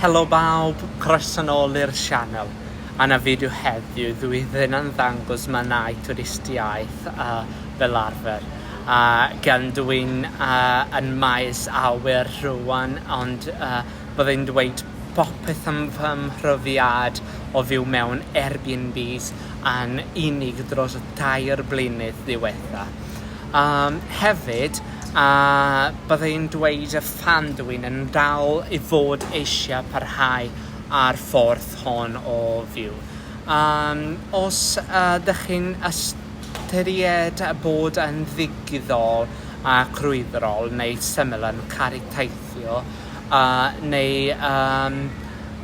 Helo bawb, croeso nol i'r sianel. A na fideo heddiw, dw i ddim yn ddangos mannau twristiaeth fel arfer, gan dw i'n yn maes awyr rwan, ond bydda i'n dweud popeth am fy mhrofiad o fyw mewn Airbnbs yn unig dros y tair blynydd diwetha. Yym, hefyd, a bydda i'n dweud y fan dw i'n yn dal i fod eisiau parhau â'r ffordd hon o fyw. Yym, os ydych chi'n ystyried bod yn ddigidol a crwydrol neu syml yn caru teithio, yy, neu yym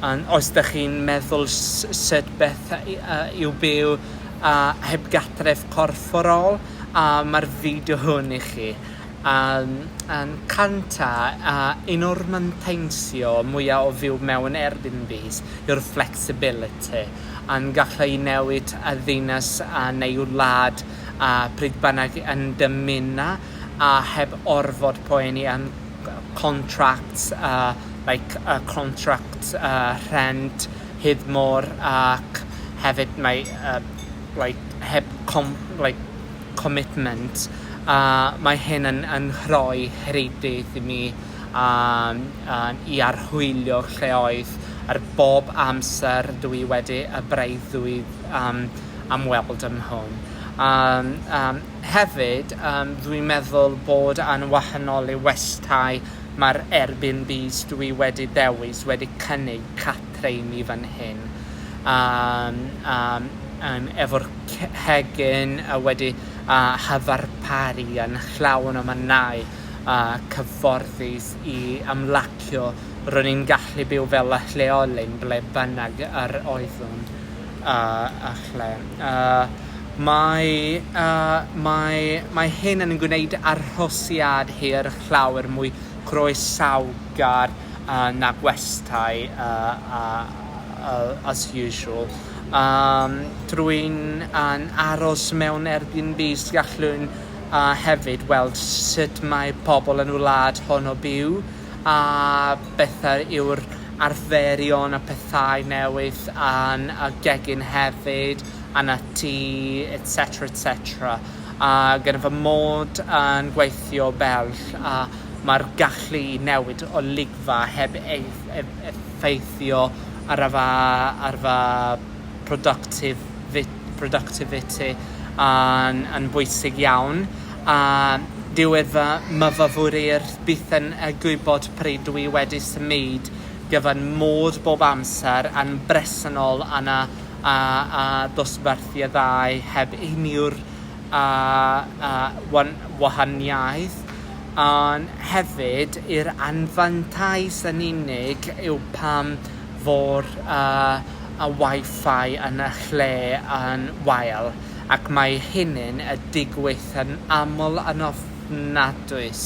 yn os dych chi'n meddwl s- sut beth yy yw byw yy heb gartref corfforol, a mae'r fideo hwn i chi yym yn canta a un o'r manteisio mwya o fyw mewn Airbnbs yw'r flexibility a'n gallu i newid y ddinas a neu wlad a pryd bynnag yn dymuno a heb orfod poeni am contracts a like a contract a rhent hyd môr ac hefyd mae yy like heb com- like commitment a mae hyn yn yn rhoi rhyddid i mi a a i archwilio lleoedd ar bob amser dw i wedi y breuddwyd yym am weld yn hwn a yym hefyd yym dwi'n meddwl bod yn wahanol i westai ma'r Airbnbs dw i wedi dewis wedi cynnig rheiny fan hyn a a yym efo'r ce- cegin a wedi a chyfarparu yn llawn o mannau a cyfforddus i ymlacio ro'n i'n gallu byw fel y lleolyn ble bynnag yr oeddwn a a lle a mae a mae mae hyn yn gwneud arhosiad hir llawer mwy croesawgar Lloegr a na gwestai as usual. Yym drwy'n yn aros mewn Airbnbs gallwn hefyd weld sut mae pobl yn y wlad hon o byw a beth yw'r arferion a pethau newydd yn y gegin hefyd yn y tŷ etc etc a gyda fy mod yn gweithio bell a mae'r gallu i newid olygfa heb effeithio ar fy productivity yn bwysig iawn, a dyw fy myfyriwr byth yn gwybod pryd dw i wedi symud gyfan mod bob amser yn bresennol yna a dosbarthiadau heb unrhyw wahaniaeth. Ond hefyd yr anfantais yn unig yw pam fo'r yy y Wi-Fi yn y lle yn wael, ac mae hynny'n yy digwydd yn aml yn ofnadwys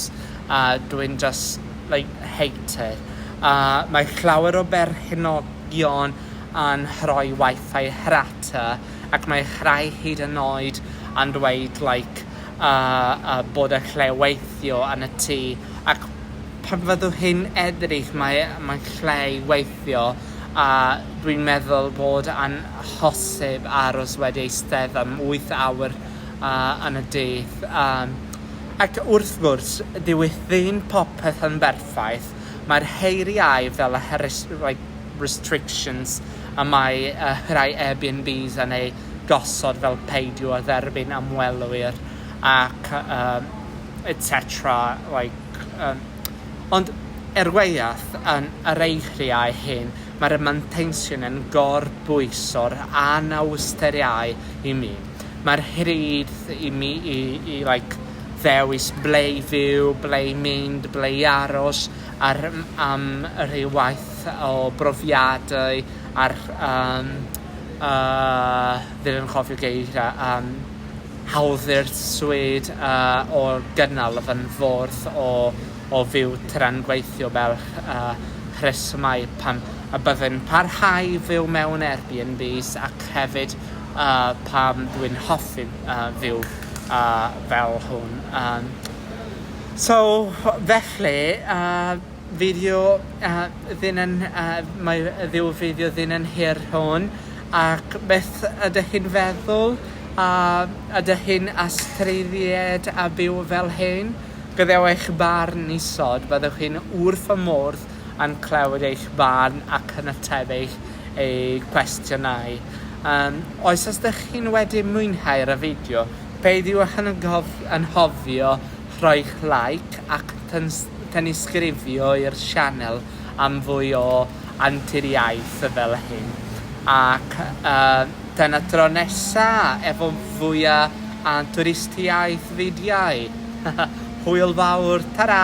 a dwi'n jyst like hate it. A mae llawer o berchnogion yn rhoi Wi-Fi rhata ac mae rhai hyd yn oed yn dweud like a bod y lle weithio yn y tŷ ac pan fyddwch chi'n edrych mae mae'n lle i weithio a dwi'n meddwl bod yn hosib aros wedi eistedd am wyth awr yn y dydd yym ac wrth gwrs dyw ddim popeth yn berffaith mae'r heiriau fel y restrictions y mae rhai Airbnbs yn eu gosod fel peidio â dderbyn ymwelwyr ac um, etc. Like, um, ond er gwaith yn yr eiriau hyn, mae'r manteisiwn yn gorbwyso'r anawsteriau i mi. Mae'r hyd i mi i, i like, ddewis ble i fyw, ble i mynd, ble i aros, ar, am rhyw waith o brofiadau, ar um, A fi'n anghofio geiriau am hawddwyr swêd a o gynnal y fan fordd o o fyw tra'n gweithio fel a rhesymau pam y byddai'n parhau fyw mewn Airbnbs ac hefyd a pam dwi'n hoffi a fyw a fel hwn a so felly a Fideo ddynen Mae ryw fideo ddynen hir rhon ac beth ydych chi'n feddwl a ydych chi'n astudied a byw fel hyn? Gadewch eich barn isod, byddwch chi'n wrth fy modd yn clywed eich barn ac yn ateb eich eu cwestiynau. Yym oes os ydych chi'n wedi mwynhau'r y fideo peidiwch yn anghofio rhoi'ch like ac Tanysgrifio i'r sianel am fwy o anturiaeth fel hyn ac tan y tro nesa efo fwy o anturistiaeth fidiau! Hwyl fawr, tara!